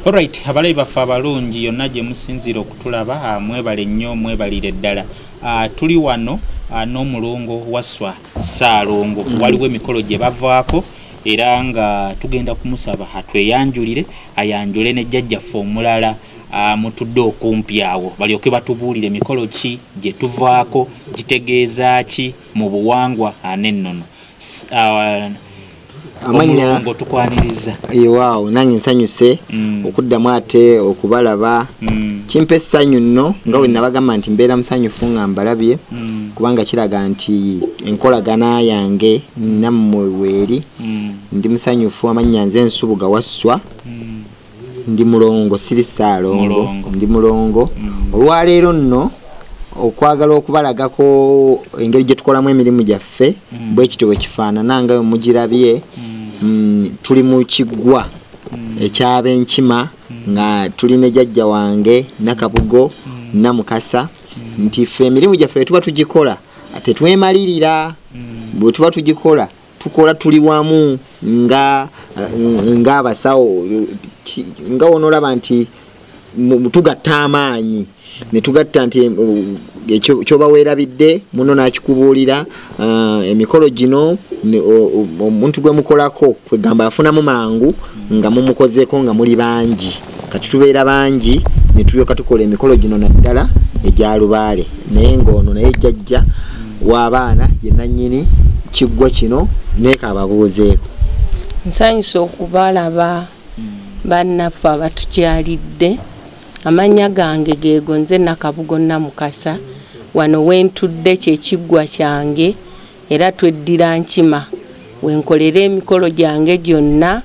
Alright, abalabi baffe abalungi yonna gye musinziira okutulaba ah, mwebale nnyo mwebalire ddala ah, tuli wano ah, n'omulongo waswa ssaalongo mm. waliwo emikolo gye bavaako era nga tugenda kumusaba atweyanjulire ayanjule ne jjajjaffe omulala mutudde okumpi awo balyoke batubuulire mikolo ki gye tuvaako gitegeeza ki mu buwangwa anennono amannya tukwaniriza ewaawo nange nsanyuse mm. okuddamu ate okubalaba mm. kimpa essanyu nno nga mm. wenabagamba nti mbeera musanyufu nga mbalabye mm. kubanga kiraga nti enkolagana yange nammwe weeri mm. ndi musanyufu amannya nze ensubuga wasswa mm. ndi mulongo siri ssaalongo ndi mulongo mm. olwaleero nno okwagala okubalagako engeri gye tukolamu emirimu gyaffe mm. bwe kityo bwe kifaanana nga we mugirabye mm. mm, tuli mu kiggwa mm. ekyaba enkima mm. nga tuli ne jajja wange nakabugo mm. namukasa mm. nti ffe emirimu gyaffe bwe tuba tugikola tetwemalirira mm. bwe tuba tugikola tukola tuli wamu nga nga abasawo nga wonolaba nti tugatta amaanyi netugatta nti kyobawerabidde muno nakikubuulira ah, emikolo gino omuntu gwemukolako kwegamba afunamu mangu nga mumukozeeko nga muli bangi kati tubeera bangi netulyoka tukola emikolo gino naddala egya lubaale naye ngaono naye jajja wabaana yenanyini kiggwa kino nekababuuzeeko nsanyusa okubalaba bannaffe abatukyalidde amannya gange geego nze nakabugo namukasa wano wentudde kyekiggwa kyange Era tweddira Nkima we nkolera emikolo gyange gyonna.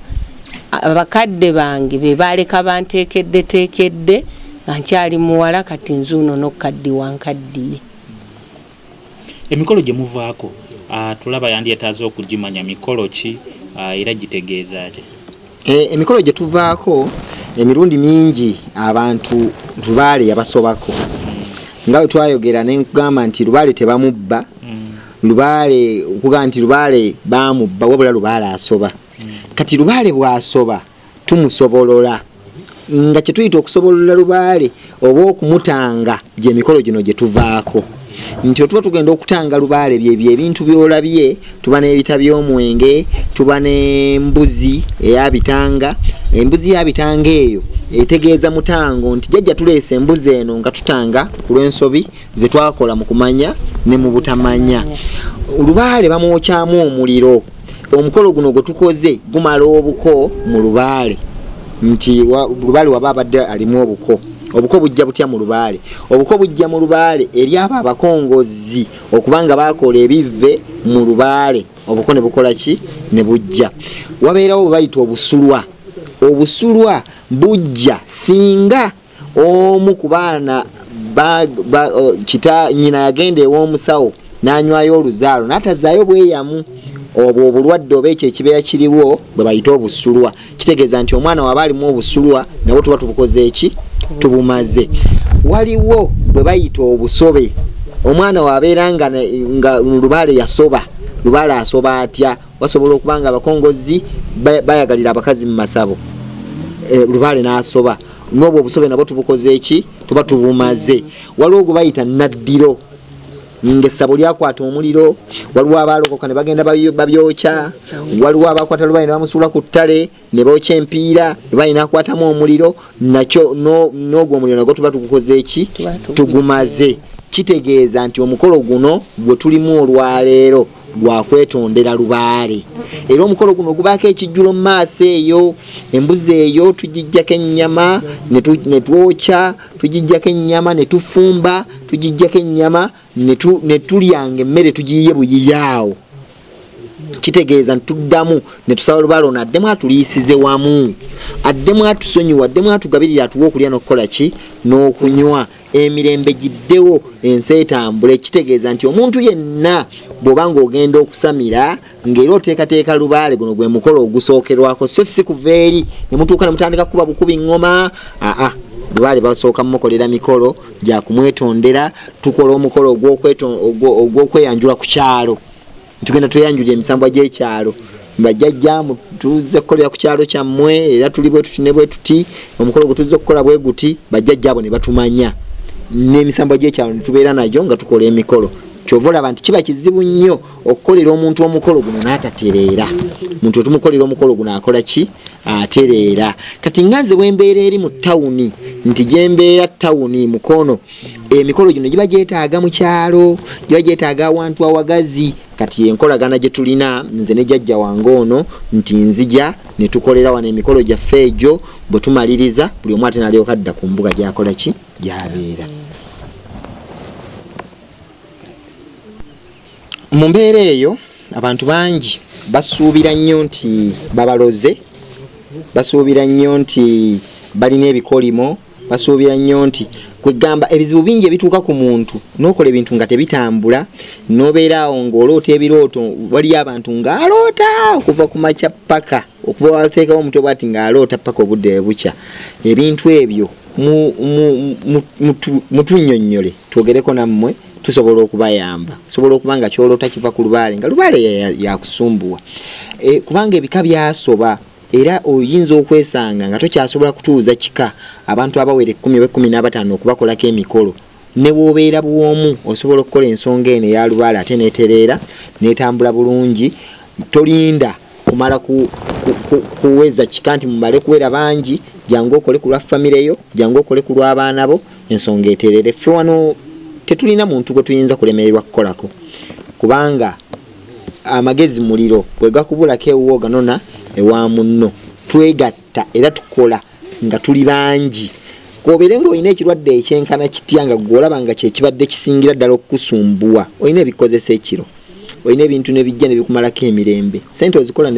Abakadde bange be baaleka banteekeddeteekedde nga nkyali muwala kati nzuuno n'okukaddiwa nkaddiye. Emikolo gye muvaako Tulaba yandyetaaze okugimanya mikolo ki era gitegeeza ki? Eh, emikolo gye tuvaako emirundi mingi abantu lubaale yabasobako nga bwe twayogera ne nkugamba nti lubaale tebamubba mm. lubaale okugamba nti lubaale bamubba wabula lubaale asoba mm. kati lubaale bw'asoba tumusobolola nga kye tuyita okusobolola lubaale oba okumutanga gyemikolo gino gyetuvaako nti otuba tugenda okutanga lubaale byebyo ebintu byolabye tuba nebita byomwenge tuba nembuzi eyabitanga embuzi yabitanga eyo etegeeza mutango nti jajja tuleesa embuzi eno nga tutanga ku lwensobi zetwakola mu kumanya ne mu butamanya olubaale bamwokyamu omuliro omukolo guno gwe tukoze gumala obuko mu lubaale nti lubaale waba abadde alimu obuko obuko bujja butya mu lubaale obuko bujja mu lubaale eri abo abakongozi okubanga bakola ebivve mu lubaale obuko ne bukola ki ne bujja wabeerawo bwebayita obusulwa obusulwa bujja singa omu ku baana kita nyina yagenda ew'omusawo n'anywayo oluzaalo n'atazaayo bweyamu obwo obulwadde oba ekyo ekibeera kiriwo bwe bayite obusulwa kitegeeza nti omwana waba alimu obusulwa nabwo tuba tubukoze eki tubumaze waliwo bwe bayita obusobe omwana wabeera nga nga lubaale yasoba lubaale asoba atya basobola okuba nga abakongozi bayagalira abakazi mu masabo eh, lubaale n'asoba n'obwo obusobe nabwo tubukoze eki tuba tubumaze waliwo gwe bayita naddiro ngaessabo lyakwata omuliro waliwo abaalokoka ne bagenda babyokya waliwo abakwata lubayi ne bamusuula ku ttale ne bookya empiira lubayi nakwatamu omuliro nakyo n'ogwo omuliro nagwo tuba tugukoze eki tugumaze kitegeeza nti omukolo guno gwe tulimu olwaleero gwakwetondera lubaale era omukolo guno ogubaako ekijjulo mu maaso eyo embuzi eyo tugijjako ennyama ne twokya tugijjako ennyama ne tufumba tugijjako ennyama ne tulyanga emmere tugiyiye buyiyaawo kitegeeza nti tuddamu ne tusaba lubaale ono addemu atuliisize wamu addemu atusonyiwa addemu atugabirira atuwa okulya n'okukola ki n'okunywa emirembe giddewo ensi etambule kitegeeza nti omuntu yenna bwoba ngaogenda okusamira ngaera oteekateeka lubaale guno gwe mukolo ogusookerwako so si kuva eri nemutuuka nemutandika kukuba bukubi ngoma aa lubaale basooka mumukolera mikolo gyakumwetondera tukola omukolo ogwokweyanjula ku kyalo tugenda tweyanjulira emisambwa gy'ekyalo bajjajja tuzze kukolera ku kyalo kyammwe era tuli bwe tuti ne bwe tuti omukolo gwe tuzze okukola bwe guti bajjajja abo ne batumanya n'emisambwa gy'ekyalo ne tubeera nagyo nga tukola emikolo kyova olaba nti kiba kizibu nnyo okukolera omuntu omukolo guno n'atatereera omuntu wetumukolera omukolo guno akola ki atereera kati nga nze bwembeera eri mu tawuni nti gyembeera tawuni mukono emikolo gino giba gyetaaga mu kyalo giba gyetaaga awantu awagazi kati enkolagana gye tulina nze ne jajja wange ono nti nzija ne tukolera wano emikolo gyaffe egyo bwe tumaliriza buli omu ate nalyoka adda ku mbuga gyakola ki gyabeera mu mbeera eyo Abantu bangi basuubira nnyo nti babaloze, basuubira nnyo nti balina ebikolimo, basuubira nnyo nti kwegamba ebizibu bingi ebituuka ku muntu n'okola ebintu nga tebitambula n'obeera awo ng'oloota ebirooto waliyo abantu ng'aloota okuva ku makya ppaka. okuva wateekawo omutwe bwati ng'aloota paka obudde webukya ebintu ebyo mutunyonyole twogereko nammwe tusobola okubayamba osobola okuba nga kyolota kiva ku lubaale nga lubaale yakusumbuwa e, kubanga ebika byasoba era oyinza okwesanga nga tokyasobola kutuuza kika abantu abawera ekumi oba ekumi n'abataano okubakolako emikolo newoobeera bwomu osobola okukola ensonga eno eyalubaale ate netereera netambula bulungi tolinda kumala ku, ku, ku, kuweza kika nti mumale kuwera bangi jangu okole ku lwa famire yo jangu okole ku lw'abaana bo ensonga eterere ffe wano tetulina muntu gwe tuyinza kulemererwa kukolako kubanga amagezi muliro bwe gakubulako ewuwo ganona ewa munno twegatta tugatta era tukola nga tuli bangi kobere nga olina ekirwadde ekyenkana kitya nga gwe olaba nga kyekibadde kisingira ddala okukusumbuwa olina ebikozesa ekiro olina ebintu nebijja nebikumalako emirembe sente ozikola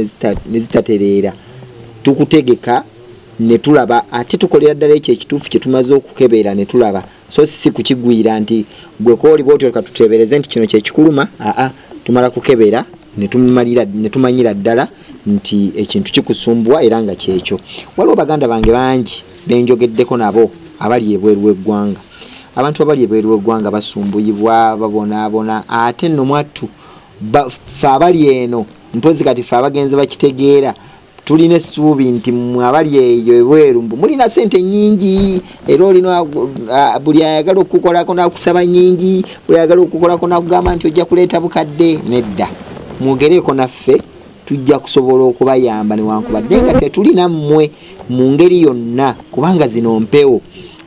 nezitatereera tukutegeka netulaba ate tukolera ddala ekyo ekituufu kyetumaze okukebeera netulaba so si kukigwira nti gwe kooli bwoti oleka tuteebereze nti kino kyekikuluma aa tumala kukebera netumalira netumanyira ddala nti ekintu kikusumbuwa era nga kyekyo waliwo baganda bange bangi benjogeddeko nabo abali ebweru w'eggwanga abantu abali ebweru w'eggwanga basumbuyibwa babonaabona ate nomwattu fe abali eno mpozi kati fe abagenzi bakitegeera tulina essuubi nti mwe abali eyo ebweru mbu mulina sente nyingi era olina buli ayagala okukukolako nakusaba nyingi buli ayagala okukukolako nakugamba nti ojja kuleeta bukadde nedda mwogereeko naffe tujja kusobola okubayamba newankubadde nga tetulina mmwe mu ngeri yonna kubanga zino mpewo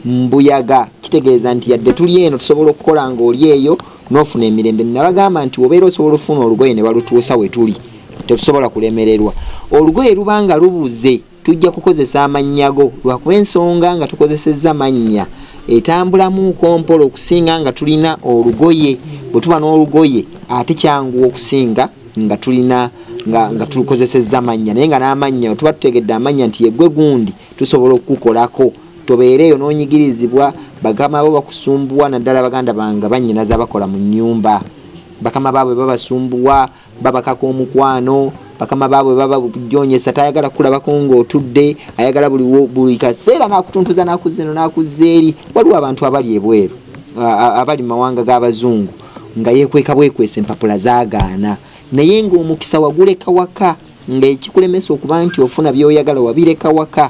mbuyaga kitegeeza nti yadde tuli eno tusobola okukola nga oli eyo nofuna emirembe nabagamba nti obeera osobola okufuna olugoye ne balutuusa wetuli tetusobola kulemererwa olugoye lubanga lubuze tujja kukozesa amanyago lwakuba ensonga nga tukozesezza mannya etambulamu kompola okusinga nga tulina olugoye bwetuba n'olugoye ate kyanguwa okusinga nga tulina nga tulukozesezza amannya naye nga n'amannya tuba tutegedde amannya nti yegwe gundi tusobola okukukolako tobeera eyo n'onyigirizibwa bagama bo bakusumbuwa naddala baganda bange banyinaza bakola mu nyumba bakama baabwe babasumbuwa babakaka omukwano bakama baabwe baba bujonyesa tayagala kulabako ngaotudde ayagala buli kaseera nakutuntuza nakuzza eno nakuzza eri waliwo abantu abali ebweru abali mumawanga g'abazungu nga yekweka bwekwesa empapula zagaana naye ngaomukisa waguleka waka ngaekikulemesa okuba nti ofuna byoyagala wabireka waka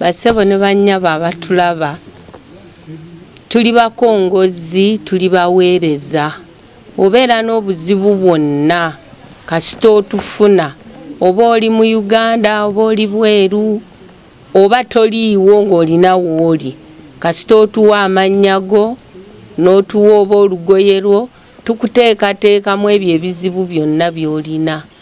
Basebo ne bannyabo abatulaba, tuli bakongozzi, tuli baweereza. Obeera n'obuzibu bwonna kasita otufuna, oba oli mu Uganda, oba oli bweru, oba toliiwo ng'olina w'oli, kasita otuwa amannya go, n'otuwa oba olugoye lwo, tukuteekateekamu ebyo ebizibu byonna by'olina.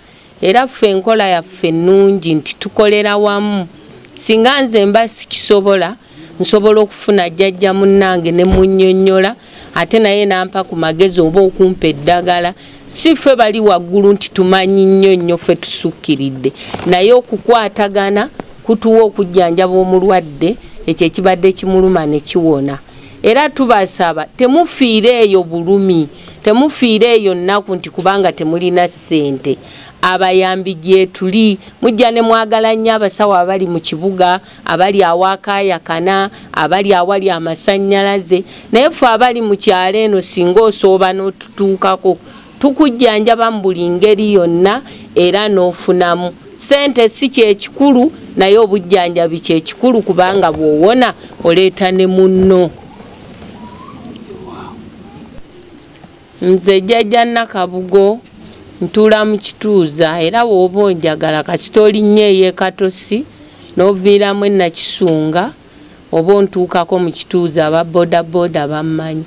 era ffe enkola yaffe nnungi nti tukolera wamu singa nze mba sikisobola nsobola okufuna jjajja munnange ne munnyonnyola ate naye nampa ku magezi oba okumpa eddagala si ffe bali waggulu nti tumanyi nnyo nnyo ffe tusukkiridde naye okukwatagana kutuwa okujjanjaba omulwadde ekyo ekibadde kimuluma ne kiwona Era tubasaba temufiira eyo bulumi, temufiira eyo nnaku nti kubanga temulina ssente. Abayambi gyetuli. Mujja ne mwagala nnyo abasawo abali mu kibuga, abali awaakaayakana, abali awali amasannyalaze, naye ffe abali mu kyalo eno singa osooba n'otutuukako Tukujjanjaba mu buli ngeri yonna era n'ofunamu. Ssente si kye kikulu naye obujjanjabi kye kikulu kubanga bw'owona oleeta ne munno. Nze Jjajja Nakabugo ntuula mu kituuza era bw'oba onjagala kasita olinnyeeyo e Katosi n'oviiramu e Nakisunga, oba ontuukako mu kituuza aba bodaboda bammanyi.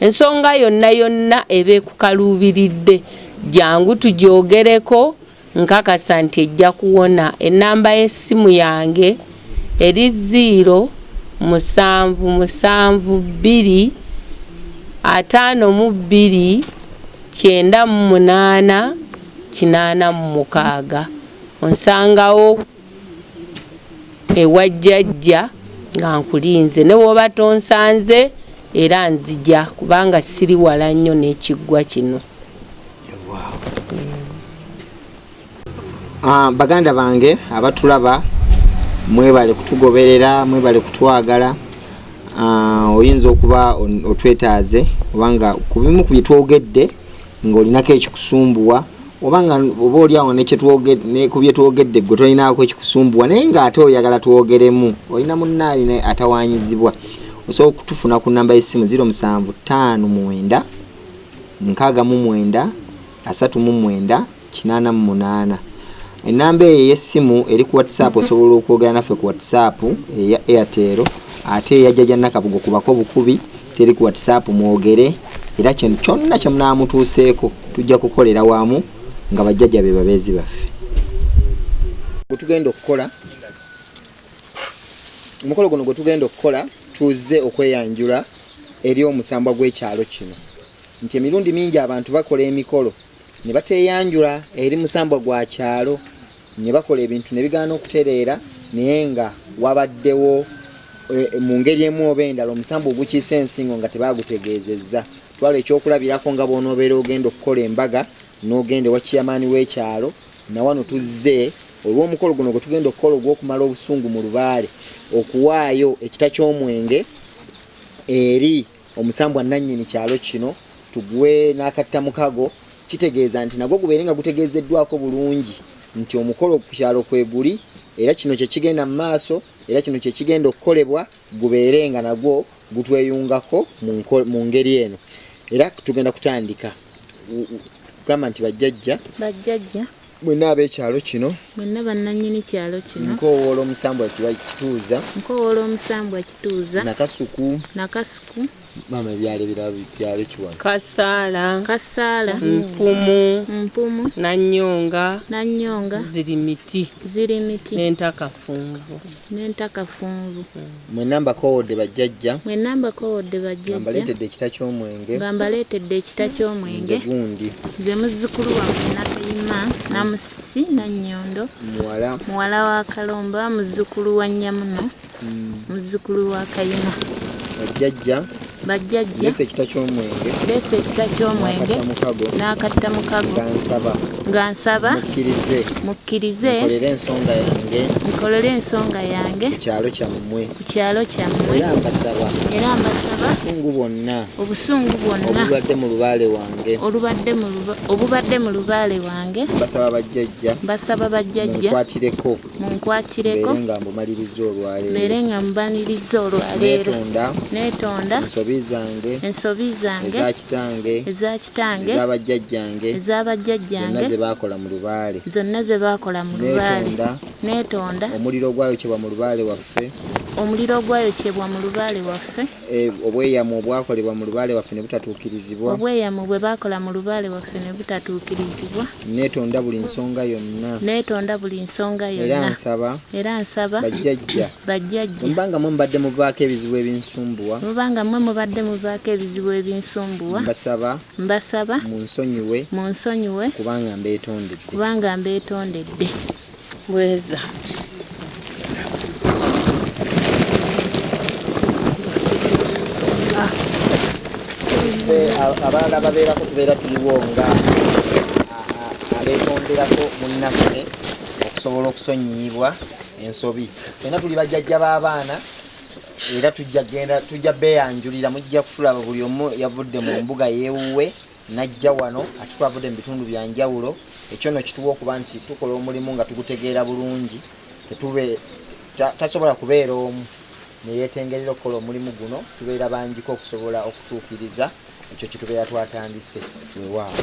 Ensonga yonna yonna eba ekukaluubiridde jangu tugyogereko nkakasa nti ejja kuwona. Ennamba y'essimu yange eri ziiro musanvu musanvu bbiri ataano mu bbiri kyenda mu munaana kinaana mu mukaaga onsangawo. ewa jjajja nga nkulinze ne bw'oba tonsanze era nzija kubanga siri wala nnyo n'ekiggwa kino. Ah, baganda bange abatulaba mwebale kutugoberera mwebale kutwagala ah, oyinza okuba otwetaaze obanga ku bimu ku byetwogedde ng'olinako ekikusumbuwa oba nga oba oli awo ku bye twogedde gwe tolinaako ekikusumbuwa naye ng'ate oyagala twogeremu olina munna alina atawanyizibwa osobola okutufuna ku namba y'essimu 0759 69 enamba eyo ey'essimu eri ku whatsapp osobola okwogera naffe ku whatsapp eya airtel ate eyajjaja nakabugo kubako bukubi teri ku whatsapp mwogere era kyonna kyemunaamutuuseeko tujja kukolera wamu nga bajjaja be babeezi baffe gwetugenda okukola omukolo guno gwetugenda okukola tuzze okweyanjula eri omusambwa gw'ekyalo kino nti emirundi mingi abantu bakola emikolo ne bateeyanjula eri musambwa gwa kyalo ne bakola ebintu ne bigaana okutereera naye nga wabaddewo eh, mu ngeri emu oba endala omusambwa ogukiisa ensingo nga tebaagutegeezezza twala ekyokulabirako nga bw'onoobeera ogenda okukola embaga n'ogenda ewa kiyamaani w'ekyalo nawano tuzze olw'omukolo guno gwe tugenda okukola ogw'okumala obusungu mu lubaale okuwaayo ekita ky'omwenge eri omusambwa nannyini kyalo kino Tuguwe n'akattamukago kitegeeza nti nagwo gubeere nga gutegeezeddwako bulungi nti omukolo ku kyalo kwe guli era kino kye kigenda mu maaso era kino kye kigenda okukolebwa gubeere nga nagwo gutweyungako mu ngeri eno era tugenda kutandika gamba nti bajjajja bajjajja Mwenna ab'ekyalo kino. Mwenna bannannyini kyalo kino. Nkoowoola omusambwa Kituuza. Nkoowoola omusambwa Kituuza. Nakasuku. Nakasuku. Maama ebyalo ebirala byalo kiwala. Kasaala. Kasaala. Mpumu. Mpumu. Nannyonga. Nannyonga. Ziri miti. Ziri miti. N'entakafunvu. N'entakafunvu. Mm. Mwenna mbakoowodde bajjajja. Mwenna mbakoowodde bajjajja. Nga mbaleetedde ekita ky'omwenge. Nga mbaleetedde ekita ky'omwenge. Nze gundi. Nze muzzukulu wammwe Nakayima Namusi Nannyondo. Muwala. Muwala wa Kalomba muzzukulu wa Nnyamuno. Mm. Muzzukulu wa Kayima. Bajjajja. bajjajja leesa ekita ky'omwenge leesa ekita ky'omwenge n'akatta mukago nga nsaba nga nsaba mukkirize mukkirize nkolere ensonga yange nkolere ensonga yange ku kyalo kyammwe ku kyalo kyammwe era mbasaba era mbasaba obusungu bwonna obusungu bwonna obubadde mu lubaale wange olubadde mu obubadde mu lubaale wange mbasaba bajjajja mbasaba bajjajja mukwatireko munkwatireko mbeere nga mbanirizza olwaleero neetonda ensobi zange eza kitange eza bajjajjange zonna ze baakola mu lubaale neetonda omuliro ogwayokyebwa mu lubaale waffe Eh, obweyamo obwakolebwa mu lubaale waffe ne butatuukirizibwa obweyamo bwe baakola mu lubaale waffe ne butatuukirizibwa neetonda buli nsonga yonna neetonda buli nsonga yonna era nsaba era nsaba bajjajja bajjajja mubanga mwe mubadde muvaako ebizibu ebinsumbuwa mubanga mwe mubadde muvaako ebizibu ebinsumbuwa mbasaba mbasaba munsonyiwe munsonyiwe kubanga mbeetondedde kubanga mbeetondedde Bweza. abalala babeerako tubeera tuliwo nga abeetonderako munnaffe okusobola okusonyiyibwa ensobi fena tuli bajjajja b'abaana era tujja genda tujja beyanjulira mujja kutulaba buli omu yavudde mu mbuga yewuwe najja wano ate twavudde mu bitundu bya njawulo ekyo no kituwa okuba nti tukola omulimu nga tugutegeera bulungi tetube tasobola kubeera omu neyetengerera okukola omulimu guno tubeera bangiko okusobola okutuukiriza ekyo kitubeera twatandise wewaawo